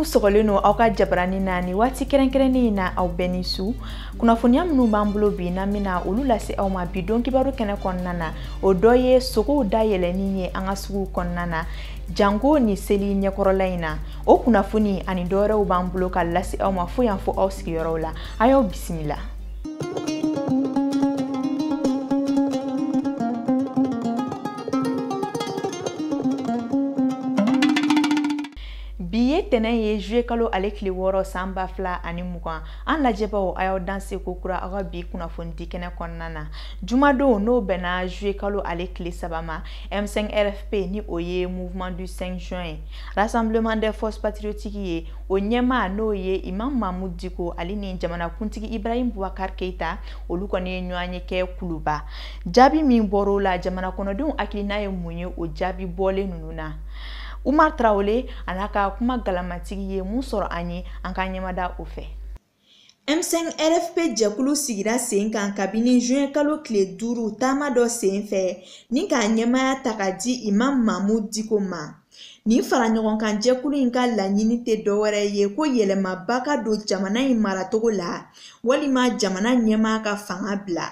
sɔgɔlen don aw ka jabarani na ni waati kɛrɛnkɛrɛnnen in na aw bɛɛ ni su kunnafoniya minnu b'an bolo bi n'an bɛna olu lase aw ma bi don kibaru kɛnɛ kɔnɔna na o dɔ ye sogow da yɛlɛni ye an ka suguw kɔnɔna na janko ni seli ɲɛkɔrɔla in na o kunnafoni ani dɔwɛrɛw b'an bolo ka lase aw ma fo yan fo aw sigiyɔrɔw la a y'aw bisimila bi ye tɛnɛn ye juye kalo ale kile wɔɔrɔ san ba fila ani mugan an lajɛbaw a y'aw danse ko kura aw ka bi kunnafonidi kɛnɛ kɔnɔna na jumadon n'o bɛnna juye kalo ale kile saba ma m5 rfp ni o ye mouvement du 5 juin ye Rassemblement des forces patriotiques ye o ɲɛmaa n'o ye Imam Mahmud Diko ale ni jamanakuntigi Ibrahim Boubacar Keita olu kɔni ye ɲɔgɔnye kɛ Kuluba jaabi min bɔr'o la jamana kɔnɔdenw hakilina ye mun ye o jaabi bɔlen ninnu na Umar Traoré a n'a ka kuma galamatigi ye mun sɔrɔ an ye an k'an ɲɛmada o fɛ M5RFP jɛkulu sigira sen kan kabini juin kalo tile duuru taama dɔ sen fɛ ni k'a ɲɛmaya ta ka di Imam Mahmud Diko ma. Nin faraɲɔgɔnkan jɛkulu in ka laɲini tɛ dɔwɛrɛ ye ko yɛlɛmaba ka don jamana in maracogo la walima jamana ɲɛmaa ka fanga bila.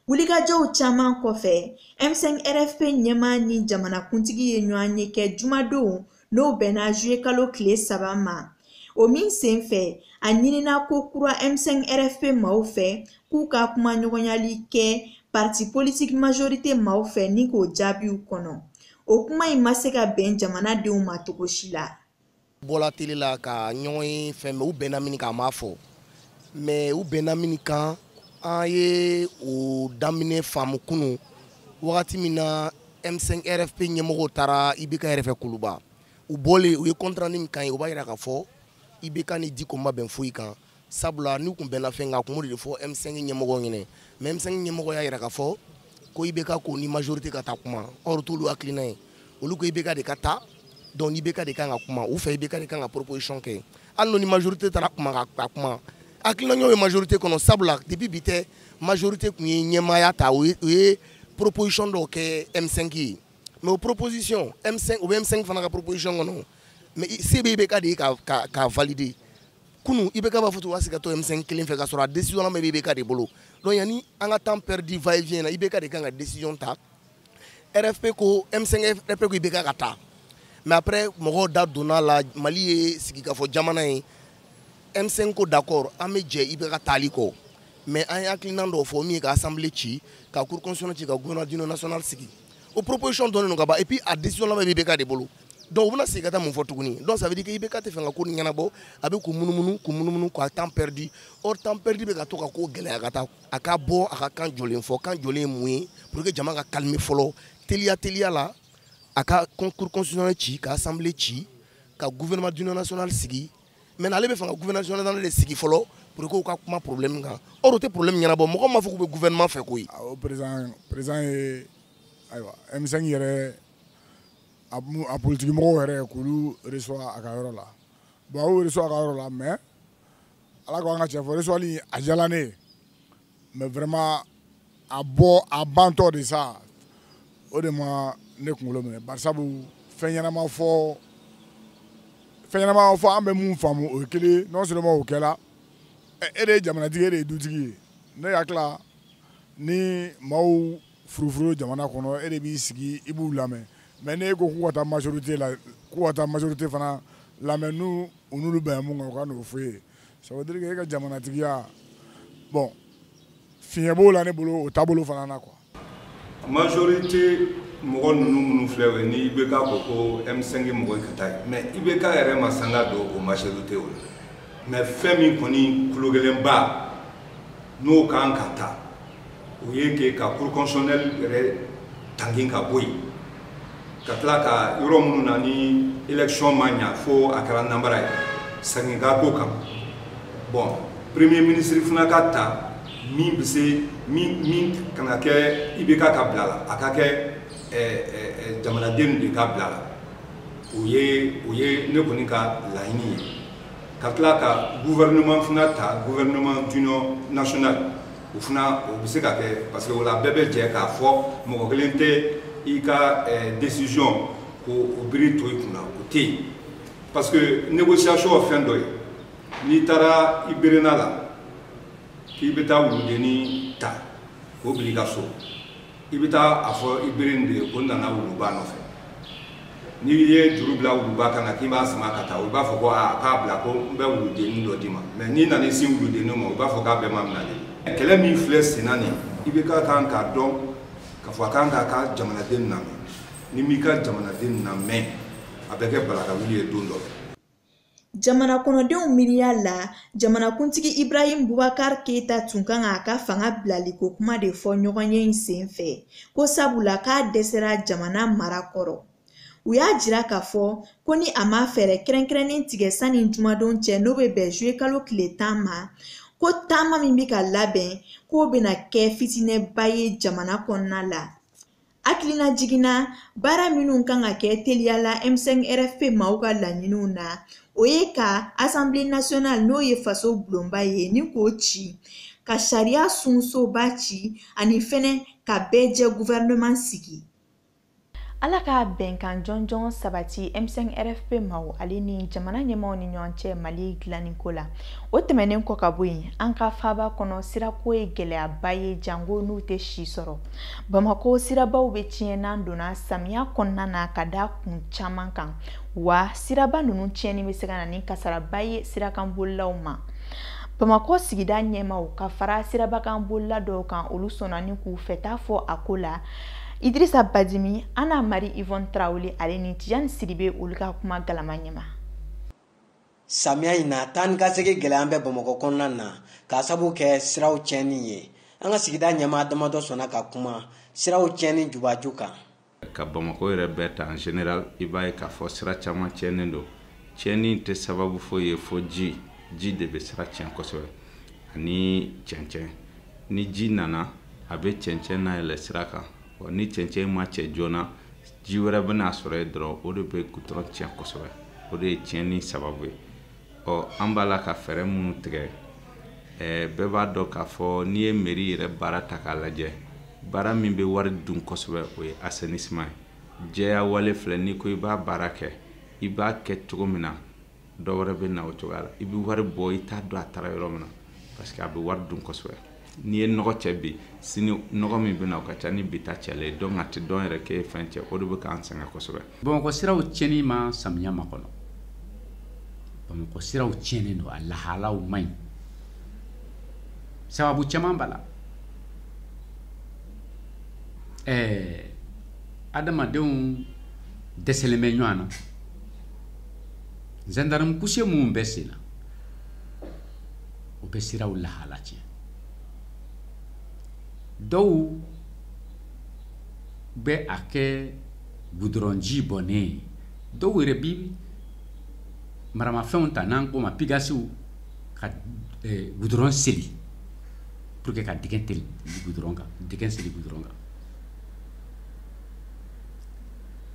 Wulikajɔw caman kɔfɛ, M5RFP ɲɛmaa ni jamanakuntigi ye ɲɔgɔnye kɛ jumadon n'o bɛnna juye kalo tile saba ma o min senfɛ a ɲinina ko kura m5 rfp maaw fɛ k'u ka kumaɲɔgɔnyali kɛ parti politique majorité maaw fɛ ni k'o jaabiw kɔnɔ o kuma in ma se ka bɛn jamanadenw ma cogo si la bɔla tele la ka ɲɔgɔn ye fɛn mais u bɛnna min kan a ma fɔ mais u bɛnna min kan an ye o daminɛ faamu kunu wagati min na M5 RFP ɲɛmɔgɔw taara IBK fɛ Kuluba u bɔlen u ye compte rendu min k'an ye u b'a jira k'a fɔ IBK ni Diko ma bɛn foyi kan sabula n'u kun bɛnna fɛn kan a kun b'o de fɔ M5 ɲɛmɔgɔw ɲɛna mais M5 ɲɛmɔgɔ y'a jira k'a fɔ ko IBK k'u ni majorité ka taa kuma o t'olu hakilina ye olu ko IBK de ka taa donc IBK de kan ka kuma u fɛ IBK de kan ka proposition kɛ hali n'u ni majorité taara kuma ka kuma hakilina ɲɛw ye majorité kɔnɔ sabula depuis bi tɛ majorité kun ye ɲɛmaaya ta u ye proposition dɔw kɛ M5 ye mais o proposition M5 o bɛ M5 fana ka proposition kɔnɔ mais se bɛ IBK de ye ka ka ka valider kunu IBK b'a fɔ cogo ka to M5 kelen fɛ ka sɔrɔ a décision laban bɛ IBK de bolo donc yanni an ka temps perdu va et vient na IBK de kan ka décision ta RFP ko M5 RFP ko IBK ka taa mais après mɔgɔw da donna la Mali ye sigikafɔ jamana ye M5 ko d'accord an bɛ jɛ IBK taali kɔ mais an ye hakilinan dɔw fɔ min ye ka assemblée ci ka cour constitutionnelle ci ka gouvernement d'union nationale sigi o proposition dɔnnen don ka ban et puis a décision laban bɛ IBK de bolo donc u bɛna segin ka taa mun fɔ tuguni donc ça veut dire que IBK tɛ fɛ ka ko nin ɲɛnabɔ a bɛ k'u munumunu k'u munumunu k'a temps perdu or temps perdu bɛ ka to ka ko gɛlɛya ka taa a ka bɔ a ka kan jɔlen fɔ kan jɔlen ye mun ye pour que jama ka calmer fɔlɔ teliya teliya la a ka cour constitutionnelle ci ka assemblée ci ka gouvernement d'union nationale sigi maintenant ale bɛ fɛ ka gouvernement national de sigi fɔlɔ pour que u ka kuma problème kan or o tɛ problème ɲɛnabɔ mɔgɔ m'a fɔ k'u bɛ gouvernement fɛ koyi. awɔ président président ye ayiwa M5 yɛrɛ a a politiki mɔgɔw yɛrɛ k'olu reçoit a ka yɔrɔ la bon a y'u reçoit a ka yɔrɔ la mais ala ko an ka tiɲɛ fɔ reçoit li a diyala ne ye. mais vraiment a bɔ a bantɔ de sa o de ma ne kunkolo minɛ barisabu fɛn ɲɛnama fɔ fɛn ɲɛnama fɔ an bɛ mun faamu o ye kelen non seulement o kɛra e de ye jamanatigi e de ye dutigi ye ne hakili la ni maaw furufuru jamana kɔnɔ e de b'i sigi i b'u lamɛn mais n'e ko k'u ka taa majorité la k'u ka taa majorité fana lamɛn n'u u n'olu bɛnna mun kan u ka n'o fɔ i ye ça veut dire que e ka jamanatigiya bon fiɲɛ b'o la ne bolo o taabolo fana na quoi majorité mɔgɔ ninnu minnu filɛ o ye ni IBK ko ko M5 mɔgɔ ka taa ye mais IBK yɛrɛ ma sanga don o majorité o la mais fɛn min kɔni kologɛlɛnba n'o ka kan ka ta o ye que ka cour constitutionnelle yɛrɛ tangin ka bɔ yen ka tila ka yɔrɔ minnu na ni élection ma ɲa fo a kɛra nanbara ye sagin ka ko kan bon premier ministre fana ka ta min bɛ se min min kana kɛ IBK ka bila la a ka kɛ jamanaden de ka bila la o ye o ye ne kɔni ka laɲini ye ka tila ka gouvernement fana ta gouvernement d'union nationale o fana o bɛ se ka kɛ parce que o la bɛɛ bɛ jɛ k'a fɔ mɔgɔ kelen tɛ i ka eh, décision ko o biri tɔw kunna o tɛ yen parce que négociation ye fɛn dɔ ye n'i taara i berenna la k'i bɛ taa wuludennin ta k'o bila i ka so i bɛ taa a fɔ i beren de ye ko n nana wuluba nɔfɛ n'i ye juru bila wuluba kan na k'i b'a sama ka taa i b'a fɔ ko aa k'a bila ko n bɛ wuludennin dɔ d'i ma mɛ n'i nana i sin wuludennin ma i b'a fɔ k'a bɛ maa minɛ de kɛlɛ min filɛ senna nin ibk kan k'a dɔn k'a fɔ a kan k'a ka jamanaden lamɛn n'i m'i ka jamanaden lamɛn a bɛ kɛ balakawuli ye don dɔ Jamana kɔnɔdenw miiriya la, jamanakuntigi Ibrahim Boubacar Keita tun kan k'a ka fanga bilaliko kuma de fɔ ɲɔgɔnye in senfɛ, ko sabula k'a dɛsɛra jamana mara kɔrɔ. U y'a jira k'a fɔ ko ni a ma fɛɛrɛ kɛrɛnkɛrɛnnen tigɛ sani jumadon cɛ n'o bɛ bɛn juye kalo tile tan ma, ko taama min bɛ ka labɛn k'o bɛna kɛ fitinɛba ye jamana kɔnɔna la. hakilinajigin na baara minnu kan ka kɛ teliya la m5rfp maaw ka laɲiniw na o ye ka asanbile nasiyonali n'o ye faso bulonba ye ni k'o ci ka sariya sunsoba ci ani fɛnɛ ka bɛɛ jɛ guvɛrɛnɛman sigi wala ka bɛnkan jɔnjɔn sabati m5rfp maaw ale ni jamana ɲɛmaaw ni ɲɔgɔn cɛ mali dilanniko la o tɛmɛnen kɔ ka bɔ yen an ka faaba kɔnɔ sirako ye gɛlɛyaba ye janko n'u tɛ si sɔrɔ bamakɔ sirabaw bɛ tiɲɛ n'an donna samiya kɔnɔna na ka da kun caman kan wa siraba ninnu tiɲɛni bɛ se ka na ni kasaraba ye sirakanbolilaw ma bamakɔ sigida ɲɛmaaw ka fara sirabakanbolila dɔw kan olu sɔnna ni k'u fɛta fɔ a ko la idirisa badimi ana mari ivɔn tarawele ale ni tijani sidibe olu ka kumagalama ɲɛ ma samiya in na taa ni ka segin gɛlɛyalen bɛ bamakɔ kɔnɔna na k'a sabu kɛ siraw tiɲɛni ye an ka sigida ɲɛmaa damadɔ sɔnna ka kuma siraw tiɲɛni jubaju kan ka bamakɔ yɛrɛ bɛɛ ta en général i b'a ye k'a fɔ sira caman tiɲɛnen don tiɲɛni tɛ sababu foyi ye fo ji ji de bɛ sira tiɲɛ kosɛbɛ ani cɛncɛn ni ji nana a bɛ cɛncɛn nayɛlɛ sira kan ni cɛncɛn ma cɛ joona ji wɛrɛ bɛ na a sɔrɔ yen dɔrɔn o de bɛ gutɔrɔn tiɲɛ kosɛbɛ o de ye tiɲɛni sababu ye ɔ an b'a la ka fɛɛrɛ minnu tigɛ ɛɛ bɛɛ b'a dɔn k'a fɔ n'i ye meri yɛrɛ baara ta k'a lajɛ baara min bɛ wari dun kosɛbɛ o ye assainissement ye jɛya wale filɛ n'i ko i b'a baara kɛ i b'a kɛ cogo min na dɔ wɛrɛ bɛ na o cogoya la i bɛ wari bɔ i t'a dɔn a taara yɔrɔ min na parce que a bɛ wari dun kosɛbɛ n'i ye nɔgɔ cɛ bi sini nɔgɔ min bɛ na o ka ca ni bi ta cɛlen ye donc a tɛ dɔn yɛrɛ k'e ye fɛn cɛ o de bɛ k'an sɛgɛn kosɛbɛ. bamakɔ siraw tiɲɛni ma samiya makɔnɔ bamakɔ siraw tiɲɛnen don a lahalaw man ɲi sababu caman b'a la ɛɛ adamadenw dɛsɛlen bɛ ɲɔgɔn na. gendarme couché minnu bɛ sen na o bɛ siraw lahala tiɲɛ dɔw bɛ a kɛ gudɔrɔnji bɔnnen ye dɔw yɛrɛ bi maramafɛnw ta n'an k'o ma pigasiw ka eh, gudɔrɔn seli pour que ka dingɛ seli gudɔrɔn kan dingɛ seli gudɔrɔn kan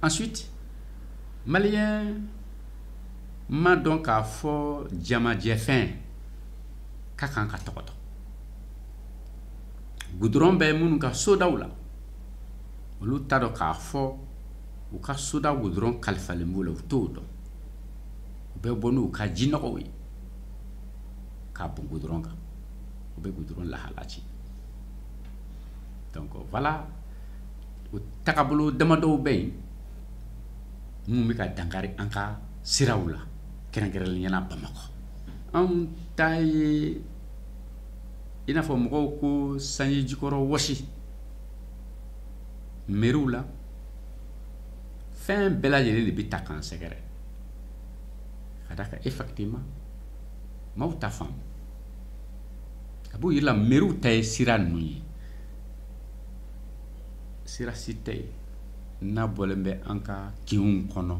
ensuite maliyɛn m'a dɔn k'a fɔ jamajɛfɛn ka kan ka tɔgɔtɔ gudɔrɔn bɛ minnu ka sodaw la olu t'a dɔn k'a fɔ u ka soda gudɔrɔn kalifalen b'u la u t'o dɔn u bɛ bɔ n'u ka jinɔgɔw ye k'a bɔn gudɔrɔn kan o bɛ gudɔrɔn lahala ci donc voilà o tagabolo damadɔw bɛ yen minnu bɛ ka dankari an ka siraw la kɛrɛnkɛrɛnnenya la bamakɔ anw ta ye i n'a fɔ mɔgɔw ko sanji jukɔrɔ wɔsi meriw la fɛn bɛɛ lajɛlen de bɛ ta k'an sɛgɛrɛ k'a d'a kan effectivement maaw t'a faamu a b'u miiri la meriw ta ye sira ninnu ye sira si tɛ yen n'a bɔlen bɛ an ka kinw kɔnɔ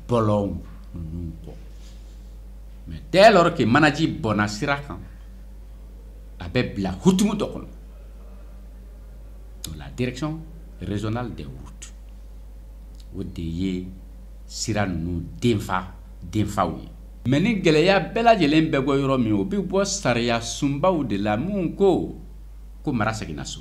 bɔlɔnw ninnu kɔ mais dès lors que manaji bɔnna sira kan a bɛ bila hukumu dɔ kɔnɔ la direction régionale des routes o de ye sira ninnu denfa denfaw ye mais ni gɛlɛya bɛɛ lajɛlen bɛ bɔ yɔrɔ min o bɛ bɔ sariyasunbaw de la minnu ko ko mara seginna so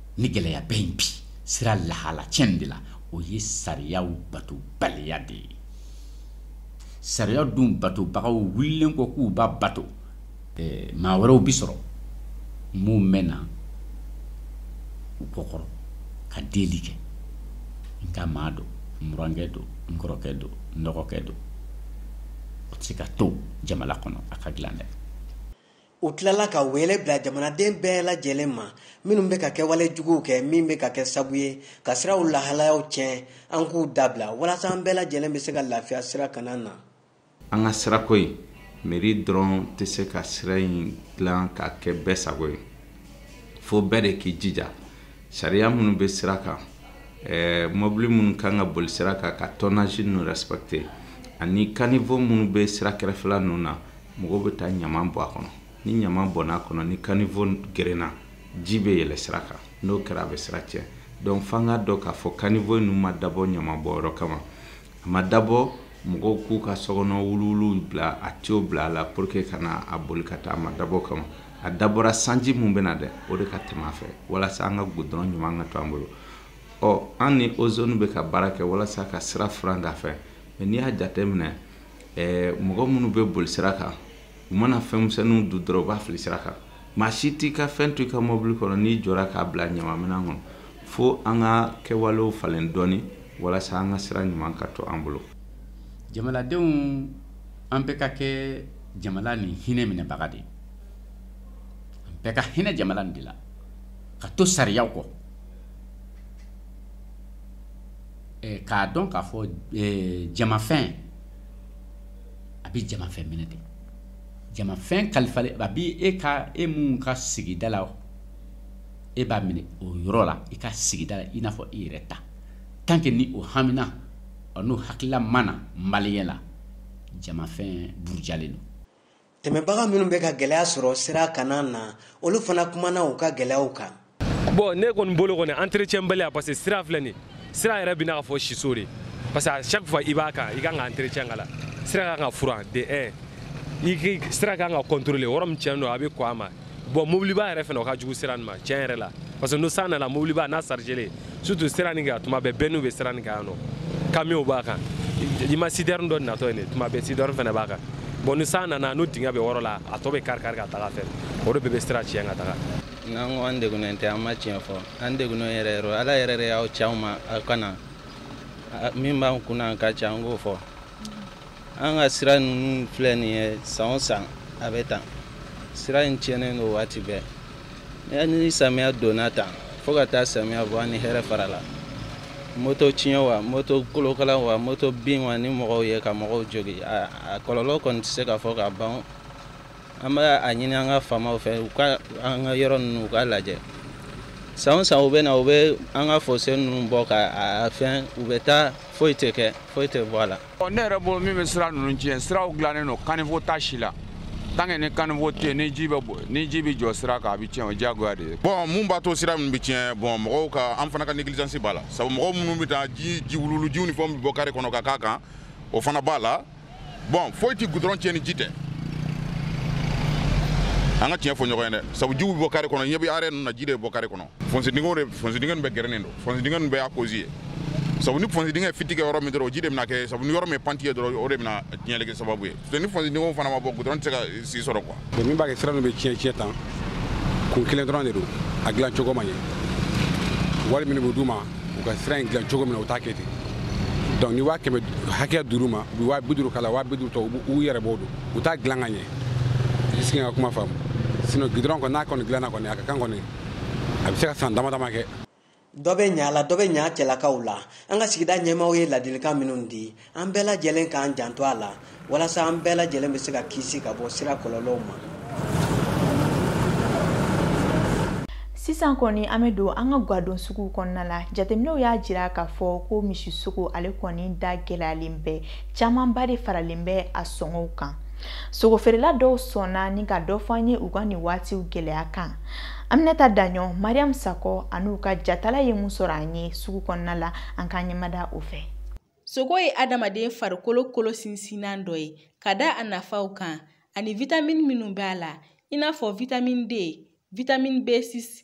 ni gɛlɛya bɛ yen bi sira lahala cɛn de la o ye sariyaw batobaliya de ye sariya dun batobagaw wulilen kɔ k'u b'a bato eh, maa wɛrɛw bi sɔrɔ minnu bɛ na u kɔkɔrɔ ka deli kɛ n ka maa don n burankɛ don n kɔrɔkɛ don n dɔgɔkɛ don o tɛ se ka to jamana kɔnɔ a ka dilan dɛ u tilala ka wele bila jamanaden bɛɛ lajɛlen ma minnu bɛ ka kɛwale juguw kɛ min bɛ ka kɛ sabu ye ka siraw lahalayaw tiɲɛ an k'u dabila walasa an bɛɛ lajɛlen bɛ se ka lafiya sira kana na an ka sirako in meri dɔrɔn tɛ se ka sira in dilan k'a kɛ bɛɛ sago ye fo bɛɛ de k'i jija sariya minnu bɛ sira kan eh, mɔbili minnu kan ka boli sira kan ka tonnage ninnu respecter ani caniveau minnu bɛ sira kɛrɛfɛla ninnu na mɔgɔw bɛ taa ɲama bɔn a kɔnɔ ni ɲama bɔn'a kɔnɔ ni kanifo gerenna ji bɛ yɛlɛ sira kan n'o kɛra a bɛ sira tiɲɛ donc f'an k'a dɔn k'a fɔ kanifo ninnu ma dabɔ ɲama bɔnyɔrɔ kama a ma dabɔ mɔgɔw k'u ka sokɔnɔ wuluwuluw bila a tiyo bila a la pour que ka na a boli ka taa a ma dabɔ o kama a dabɔra sanji min bɛ na dɛ o de ka tɛmɛ a fɛ walasa an ka gudɔrɔn ɲuman ka to an bolo ɔ an ni ozone bɛ ka baara kɛ walasa ka sira furan k'a fɛ mais n'i y'a jateminɛ ɛɛ mɔgɔ minnu bɛ boli sira kan u mana fɛn misɛnninw dun dɔrɔn u b'a fili sira kan maa si t'i ka fɛn to i ka mɔbili kɔnɔ n'i jɔra k'a bila ɲamaminan kɔnɔ fo an ka kɛwalew falen dɔɔni walasa an ka sira ɲuman ka to an bolo jamanadenw an bɛɛ ka kɛ jamana nin hinɛ minɛbaga de ye an bɛɛ ka hinɛ jamana nin de la ka to sariyaw kɔ k'a dɔn k'a fɔ jamafɛn a bɛ jamafɛn minɛ de jamafɛn kalifalen a bɛ e ka e min ka sigida la e b'a minɛ o yɔrɔ la i ka sigida la i n'a fɔ i yɛrɛ ta tant que ni o hamina n'o hakilila ma na maliyɛn la jamafɛn burujalen don tɛmɛbaga minnu bɛ ka gɛlɛya sɔrɔ sira kanna na olu fana kumana u ka gɛlɛyaw kan bon ne kɔni bolo kɔni entretien baliya parce que sira filɛ nin sira yɛrɛ bɛ n'a ka fɔ siso de parce que à chaque fois i b'a kan i kan ka entretien k'a la sira ka kan ka furan de un i sira ka kan ka contrôler yɔrɔ min tiɲɛ don a bɛ kɔn a ma bon mobiliba yɛrɛ fana o ka jugu sira nin ma tiɲɛ yɛrɛ la parce que n'o san nana mobiliba n'a chargélen surtout sira nin kan tuma bɛɛ bɛnniw bɛ sira nin kan yan nɔ kamiyonw b'a kan i ma citerne dɔ natɔ ye nin tuma bɛɛ citerne fana b'a kan bon ni san nana n'o dingɛ bɛ wɔrɔ la a tɔ bɛ kari kari ka taga a fɛ o de bɛɛ bɛ sira tiɲɛ ka taga n'an ko an degunnen tɛ an ma tiɲɛ fɔ an degunnen yɛrɛ yɛrɛ ala yɛrɛ de y'aw ci anw ma aw ka na min b'an kunna an ka ca an k'o fɔ an ka sira ninnu filɛ nin ye san o san a bɛ tan sira in tiɲɛnen don waati bɛɛ ni samiya donna tan fo ka taa samiya bɔ an ni hɛrɛ farala moto tiɲɛ wa moto kolokala wa moto bin wa ni mɔgɔw ye ka mɔgɔw jogin a kɔlɔlɔ kɔni tɛ se ka fɔ ka ban an bɛ a ɲini an ka faamaw fɛ u ka an ka yɔrɔ ninnu u ka lajɛ san o san u bɛ na u bɛ an ka fose ninnu bɔ ka a fɛn u bɛ taa foyi tɛ kɛ foyi tɛ bɔ a la ne yɛrɛ bolo min bɛ sira ninnu tiɲɛ siraw dilannen don kanifo t'a si la tant que ni kanifo tɛ yen ni ji bɛ jɔ sira kan a bɛ tiɲɛ o diyagoya de ye. bon mun b'a to sira ninnu bɛ tiɲɛ bon mɔgɔw ka an fana ka négligence b'a la sabu mɔgɔw minnu bɛ taa ji wuluwulujiw ni fɛnw bɛ bɔ kare kɔnɔ ka k'a kan o fana b'a la bon foyi tɛ gudɔrɔn tiɲɛ ni ji tɛ an ka tiɲɛ fɔ ɲɔgɔn ye dɛ sabu jiw bɛ bɔ kare kɔnɔ ne bɛ arrêt ninnu na ji de bɛ bɔ kare kɔnɔ. fonsi dingɛw de fonsi dingɛ nin bɛɛ gɛrɛnen don fonsi dingɛ nin bɛɛ y'a kozi ye sabu ni fonsi dingɛ fiti kɛ yɔrɔ min dɔrɔn o ji de bɛna kɛ sabu ni yɔrɔ min panti ye dɔrɔn o de bɛna tiɲɛli kɛ sababu ye ni fonsi dingɛw fana ma bɔ gudɔrɔn tɛ se ka si sɔrɔ kuwa bon min b'a kɛ sira ninnu bɛ tiɲɛ tiɲɛ tan kun kelen dɔrɔn de don a dilan cogo ma ɲɛ wari minnu bɛ d'u ma u ka sira in dilan cogo min na u t'a kɛ ten donc ni waa kɛmɛ hakɛya dir'u ma u bɛ waa bi duuru k'a la waa bi duuru tɔ u yɛrɛ b'o dun u t'a dilan ka ɲɛ est ce que i ka kuma faamu sinon gudɔrɔn kɔni n'a kɔni dilanna kɔni a ka kan kɔni a bɛ se ka san dama dama kɛ dɔ bɛ ɲa la dɔ bɛ ɲa cɛlakaw la an ka sigida ɲɛmaaw ye ladilikan minnu di an bɛɛ lajɛlen k'an janto a la walasa an bɛɛ lajɛlen bɛ se ka kisi ka bɔ sira kɔlɔlɔw ma sisan kɔni an bɛ don an ka gadon suguw kɔnɔna la jateminɛw y'a jira k'a fɔ ko misisogo ale kɔni da gɛlɛyalen bɛ camanba de faralen bɛ a sɔngɔw kan sogo feerela dɔw sɔnna ni ka dɔ fɔ an ye u ka nin waatiw gɛlɛya kan aminata daɲɔ mariyamu sakɔ an'u ka jatala ye mun sɔrɔ an ye sugu kɔnɔna la an k'an ɲɛmada o fɛ sogo ye adamaden farikolo kolo sinsinnan dɔ ye ka da a nafaw kan ani vitamini minnu b'a la i n'a fɔ vitamini d vitamini b6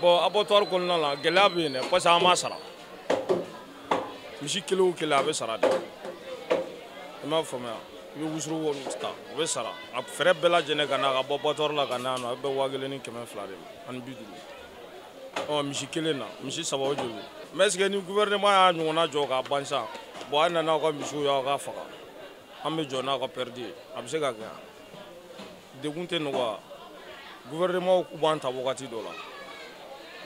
bɔn abattoir kɔnɔna la gɛlɛya bɛ yen dɛ parce que an b'a sara misi kelen o kelen a bɛ sara de i m'a faamuya i bɛ wusuru wari ta o bɛ sara a frais bɛɛ lajɛlen ka na ka bɔ abattoir la ka na yan nɔ a bɛ bɛn waa kelen ni kɛmɛ fila de ma ani bi duuru ɔ misi kelen na misi saba o joli mais est ce que ni gouvernement y'a ɲɔgɔnna jɔ k'a ban sa bɔn a na n'aw ka misiw y'aw k'a faga an bɛ jɔ n'aw ka pɛridi ye a bɛ se ka kɛ yan degun tɛ nɔgɔya gouvernement k'u b'an ta wagati dɔ la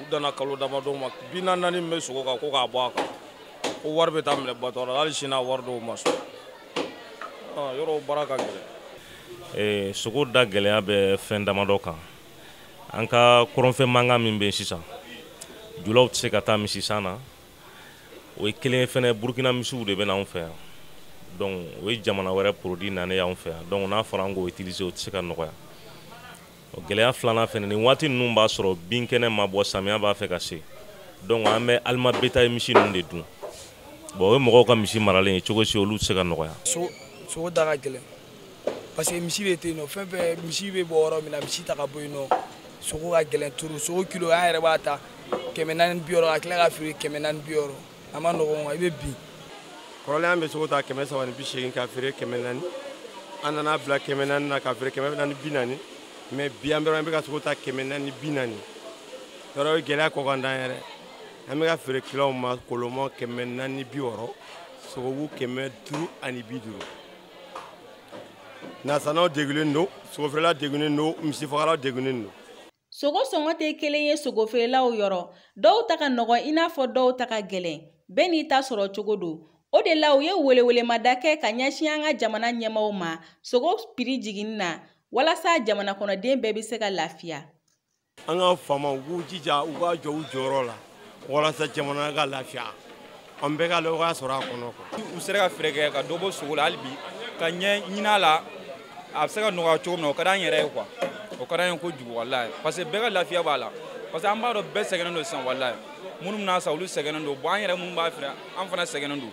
u danna kalo damadɔ ma bi naani min bɛ sogo kan ko k'a bɔ a kan ko wari bɛ taa minɛ abattoir la hali sini a wari dɔw ma sɔrɔ ah, yɔrɔ baara ka gɛlɛn eh, sogo da gɛlɛya bɛ fɛn damadɔ kan an ka kɔrɔnfɛ mankan min bɛ yen sisan julaw tɛ se ka taa misisan na o ye kelen ye fɛnɛ burukina misiw de bɛ na anw fɛ yan donc o ye jamana wɛrɛ produit nanen y'anw fɛ yan donc n'a fɔra an k'o utiliser o tɛ se ka nɔgɔya gɛlɛya filanan fɛnɛ nin waati ninnu b'a sɔrɔ binkɛnɛ ma bɔ samiya b'a fɛ ka se donc an bɛ aliment bétail misi ninnu de dun bon o ye mɔgɔw ka misi maralen ye cogo si olu tɛ se ka nɔgɔya sogo da ka gɛlɛn parce que misi bɛ to yen nɔ fɛn fɛn misi bɛ bɔ yɔrɔ min na misi tɛ ka bɔ yen nɔ sogo ka gɛlɛn trop sogo kilo an yɛrɛ b'a ta kɛmɛ naani bi wɔɔrɔ ka tila ka feere kɛmɛ naani bi wɔɔrɔ a man nɔgɔn i bɛ bin kɔrɔlen an bɛ sogo ta kɛmɛ saba ni bi seegin ka feere kɛmɛ naani an nana bila kɛmɛ naani na ka feere kɛmɛ naani bi naani mais bi an bɛ an bɛ ka sogo ta kɛmɛ naani bi naani yɔrɔ ye gɛlɛya kɔkan dan yɛrɛ an bɛ ka feere kiliyanw ma koloma kɛmɛ naani bi wɔɔrɔ sogobu kɛmɛ duuru ani bi duuru nasannaw degunnen don sogofeerela degunnen don misifagala degunnen don sogo sɔngɔ tɛ kelen ye sogofeerelaw yɔrɔ dɔw ta ka nɔgɔn i n'a fɔ dɔw ta ka gɛlɛn bɛɛ n'i ta sɔrɔ cogo don o de la u ye welewelemada kɛ ka ɲɛsin an ka jamana ɲɛmaaw ma sogo piri jiginni na walasa jamanakɔnɔden bɛɛ bɛ se ka lafiya an ka faamaw u k'u jija u ka jɔ u jɔyɔrɔ la walasa jamana ka lafiya an bɛɛ ka nɔgɔya sɔrɔ a kɔnɔ u sera ka fɛɛrɛ kɛ ka dɔ bɔ sogo la hali bi ka ɲɛ ɲin'a la a bɛ se ka nɔgɔya cogo min na o ka d'an yɛrɛ ye quoi o ka d'an ye kojugu walayi parce que bɛɛ ka lafiya b'a la parce que an b'a dɔn bɛɛ sɛgɛnnen don sisan walayi minnu bɛ n'a san olu sɛgɛnnen don bon an yɛrɛ minnu b'a feere an fana sɛgɛnnen don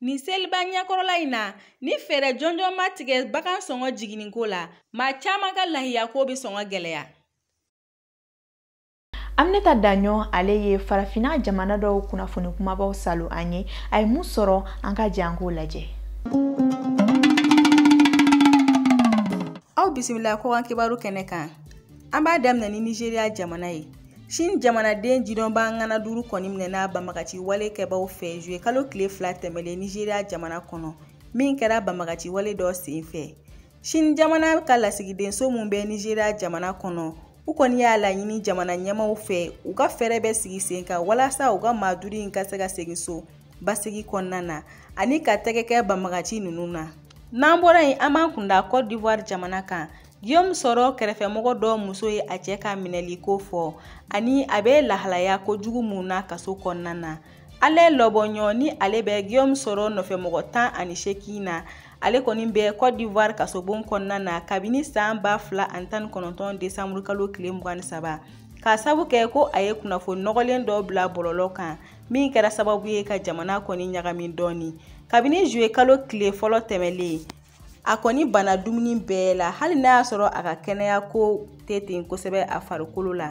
Nin seliba ɲɛkɔrɔla in na ni fɛɛrɛ jɔnjɔn ma tigɛ bagan sɔngɔ jiginniko la maa caman ka lahiyako bɛ sɔn ka gɛlɛya aminata daɲɔ ale ye farafinna jamana dɔw kunnafoni kumabaw saalo an ye a ye mun sɔrɔ an ka jɛ an k'o lajɛ aw bisimila kɔkan kibaru kɛnɛ kan an b'a daminɛ ni nizeriya jamana ye Sini jamanaden jidɔnba ŋana duuru kɔni minɛna banbagaci wale kɛbaw fɛ zuye kalo tile fila tɛmɛlen nizeriya jamana kɔnɔ min kɛra banbagaci wale dɔ sen fɛ sini jamana ka lasigidenso min bɛ nizeriya jamana kɔnɔ u kɔni y'a laɲini jamana ɲɛmaaw fɛ u ka fɛɛrɛ bɛɛ sigi sen kan walasa u ka maa duuru in ka se ka segin so basigi kɔnɔna na ani ka tɛgɛ kɛ banbagaci ninnu na n'an bɔra yen an b'an kunda cote d'ivoire jamana kan Guillaume Soro kɛrɛfɛmɔgɔ dɔ muso ye a cɛ ka minɛli kofɔ ani a bɛ lahalaya kojugu min na kaso kɔnɔna na Alain Lobognon nin ale bɛ Guillaume Soro nɔfɛmɔgɔ tan ani seegin na ale kɔni bɛ Cote d'Ivoire kasobon kɔnɔna na kabini san ba fila ani tan ni kɔnɔntɔn desanburu kalo tile mugan ni saba k'a sabu kɛ ko a ye kunnafoni nɔgɔlen dɔ bila bɔlɔlɔ kan min kɛra sababu ye ka jamana kɔni ɲagami dɔɔni kabini zuye kalo tile fɔlɔ tɛmɛlen a kɔni banna dumuni bɛɛ la hali n'a y'a sɔrɔ a ka kɛnɛya ko tɛ ten kosɛbɛ a farikolo la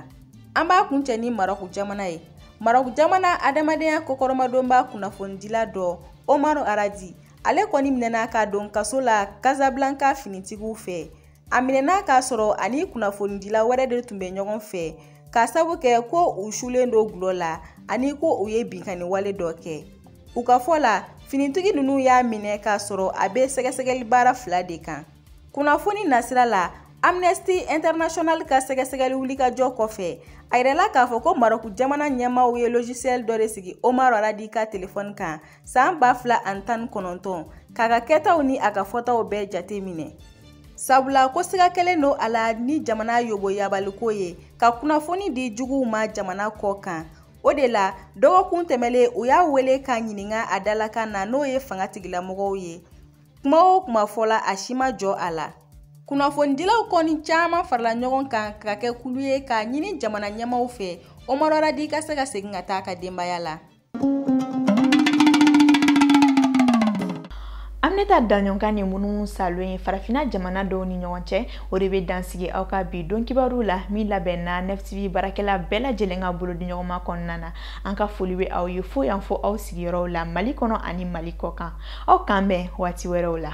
an b'a kuncɛ ni marɔku jamana ye marɔku jamana adamadenya kɔkɔrɔmadonba kunnafonidila dɔ Omar Radi ale kɔni minɛna k'a don kaso la kasablanka finitigiw fɛ a minɛna k'a sɔrɔ ani kunnafonidila wɛrɛ de tun bɛ ɲɔgɔn fɛ k'a sabu kɛ ko u sulen don dɔlɔ la ani ko u ye binkanni wale dɔ kɛ u ka fɔ la finitigi ninnu y'a minɛ k'a sɔrɔ a bɛ sɛgɛsɛgɛli baara fila de kan kunnafoni nasira la amnesty international ka sɛgɛsɛgɛli wulikajɔ kɔfɛ a yirala k'a fɔ ko marɔku jamana ɲɛmaaw ye logiciel dɔ de sigi omar radi ka telefɔni kan san ba fila ani tan ni kɔnɔntɔn k'a ka kɛtaw ni a ka fɔtaw bɛɛ jate minɛ sabula ko siga kɛlen don a la ni jamana yoboyabaliko ye ka kunnafoni di juguw ma jamana kɔ kan o de la dɔgɔkun tɛmɛlen u y'a wele k'a ɲininka a dalakan na n'o ye fangatigilamɔgɔw ye kuma o kuma fɔla a si ma jɔ a la kunnafonidilaw kɔni caman farala ɲɔgɔn kan ka kɛ kulu ye k'a ɲini jamana ɲɛmaw fɛ omar radi ka se ka segin ka taa a ka denbaya la aminata daɲɔgɔ ka nin munumunusaalo ye farafina jamana dɔw ni ɲɔgɔn cɛ o de bɛ dan sigi aw ka bi don kibaru la min labɛnna nftv baarakɛla bɛɛ lajɛlen ka bolodiɲɔgɔnma kɔnɔna na an ka foli bɛ aw ye fo yan fo aw sigiyɔrɔw la mali kɔnɔ ani mali kɔ kan aw k'an bɛn waati wɛrɛw la